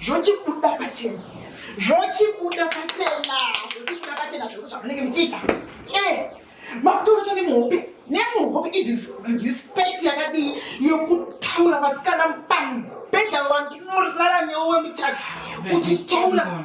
zvochibuda pachena zvochibuda pachena zvochibuda pachena zvose zvamunenge muchiita makutorota nemuhope nemuhope irespect yakadii yokutaura vasikana pambhedha wandinorara newe muchaka uchitaura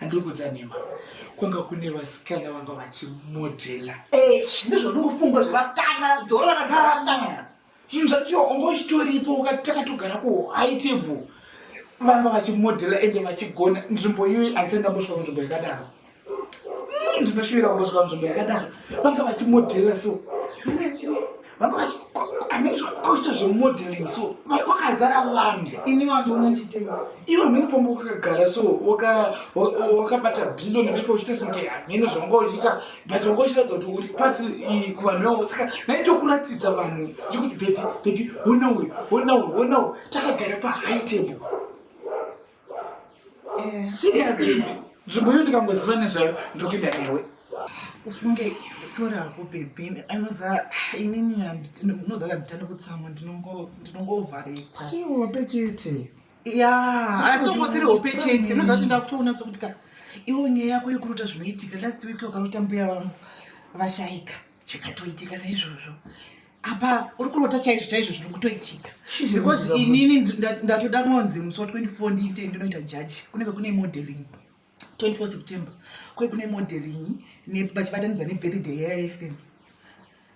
Handiri kudza nhema. Kwanga kune vasikana vanga vachimodhela. Eh, zvine zvandikufunga zvevasikana, dzorora na vasikana. Zvinhu zvacho wanga uchitoripo ukati takatogara ku high table. Vanga vachimodhela ende vachigona nzvimbo iyoyi handisati ndambosvika kunzvimbo yakadaro. Hmm, Ndinoshuvira kumbosvika kunzvimbo yakadaro. Vanga vachimodhela so. vanga vachikoita zvemodeling so kwakazara vanhu ini vandiona chitema ivo hamheni pombo kakagara so wakabata billion ndipo uchita senge hamheni zvanga uchiita but wanga uchiratidza kuti uri part kuvanhu vavo saka naitokuratidza vanhu chikuti bebi bebi ona uyu ona uyu ona uyu takagara pahigh table Eh. Seriously. Nzvimbo iyo ndikangoziva nezvayo ndikuenda newe. Ufunge sori hako baby anoza inini ndinoza kanditane kutsamwa ndinongo ndinongovareta. Chiwo pechete. Yeah, asi ungosiri hope chete. Unoza kuti ndakutoona sokuti ka iwo nyaya yako yekuruta zvinoitika last week wakarota mbuya vangu vashaika. zvikatoitika saizvozvo apa uri kurota chaizvo chaizvo zviri kutoitika because inini ndatoda kunonzi musi wa 24 ndiite ndinoita judge kunenge kune modeling 24 september kwe kune modeling vachibatanidza nebirthday yayafm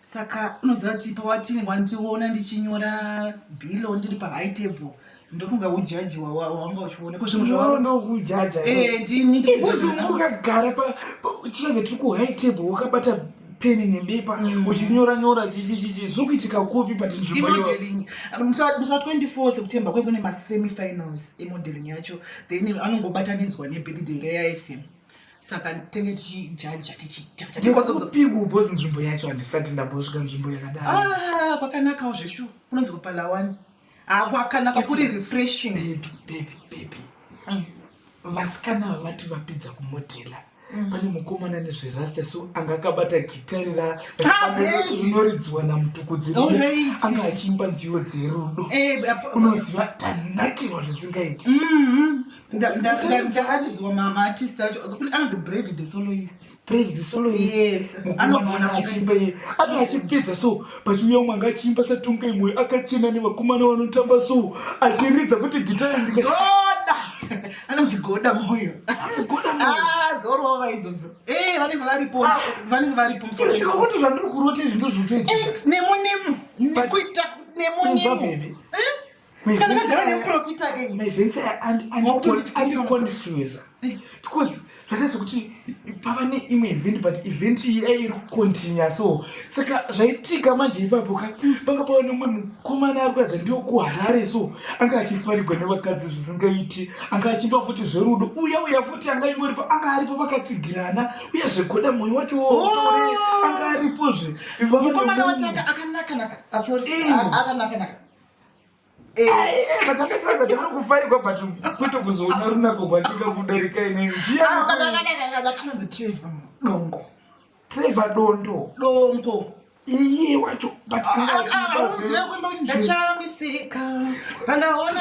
saka unoziva kuti pawatinenge wandiona ndichinyora bilo ndiri pahigh table ndofunga hujaji hwawanga uchione kozvimuzvaunougagara chiave tiri kuhigh table wakabata peni nebepa mm. uchinyora nyora chichichichi zviri kuitika kupi but nzvimbomusa 24 september kwekune masemifinals emodeling yacho then anongobatanidzwa nebirthday reyaifm saka tenge tichijaja tichitatikozopikubozi nzvimbo yacho handisati ndambosvika nzvimbo yakadaro ah, kwakanakawo zveshu unonzi kupalawani akwakanaka kuri refreshing baby baby baby mm. vasikana mm. vavati vapedza kumodhela mm. pane mukomana nezverasta so anga akabata gitari rarinoridziwa namutukudzi anga achiimba nziyo dzerudo eh, unoziva tanakirwa zvisingaiti mm-hmm. ndakatidziwa mama artist acho anonzi brave the soloist praise the solo yes anogona kuimba iye ati achipedza so pachiuya umwe anga achiimba satunga imwe akachena nevakomana vanotamba so achiridza kuti gitari ndikaoda anonzi goda moyo ah, zorova vaidzodzo eh, vanenge varipo ah. vanenge varipo musika kuti zvandiri kurota izvi ndozvotoita eh, nemunemu nekuita nemunemu Saka ndakagara nemuprofita ke. My vents and and and confuse. Because zvataisa kuti pava ne imwe event but event iyi ai iri kucontinua so saka zvaitika manje ipapo ka panga pava nemumwe mukomana ari kuratidza ndiwo kuharare so anga achifarigwa nevakadzi zvisingaiti anga achimba futi zverudo uya uya futi anga ingoripo anga aripo vakatsigirana uye zvegoda mwoyo wacho wotore oh! anga aripozve mukomana watanga akanaka naka asori ah, eh. akanaka naka vatakatarasa tiri kufarigwa but kwete kuzoona runako kwatika kudarika inenziakanonzi trevor dongo trevor dondo dongo iye wacho butndaiaamiseka pandaona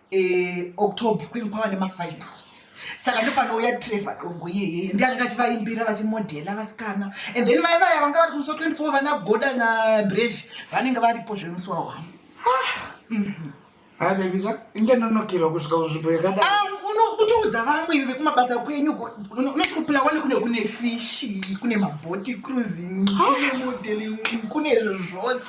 Eh, october kwenge kwava nemafinals saka ndopanouya trevor dongo iyeye ndi anenge achivaimbira vachimodhela vasikana and then mai vaya vanga vari kumusi wa 24 vana goda na brave vanenge varipo zvemusi wa one ah, mhm. abebiza inge nonokerwa kusvika kunzvimbo yakadai ah, unotoudza vamwe ive vekumabasa kwenyu unotikupila wani kune kune fishi kune maboti cruising kune modeling kune zvose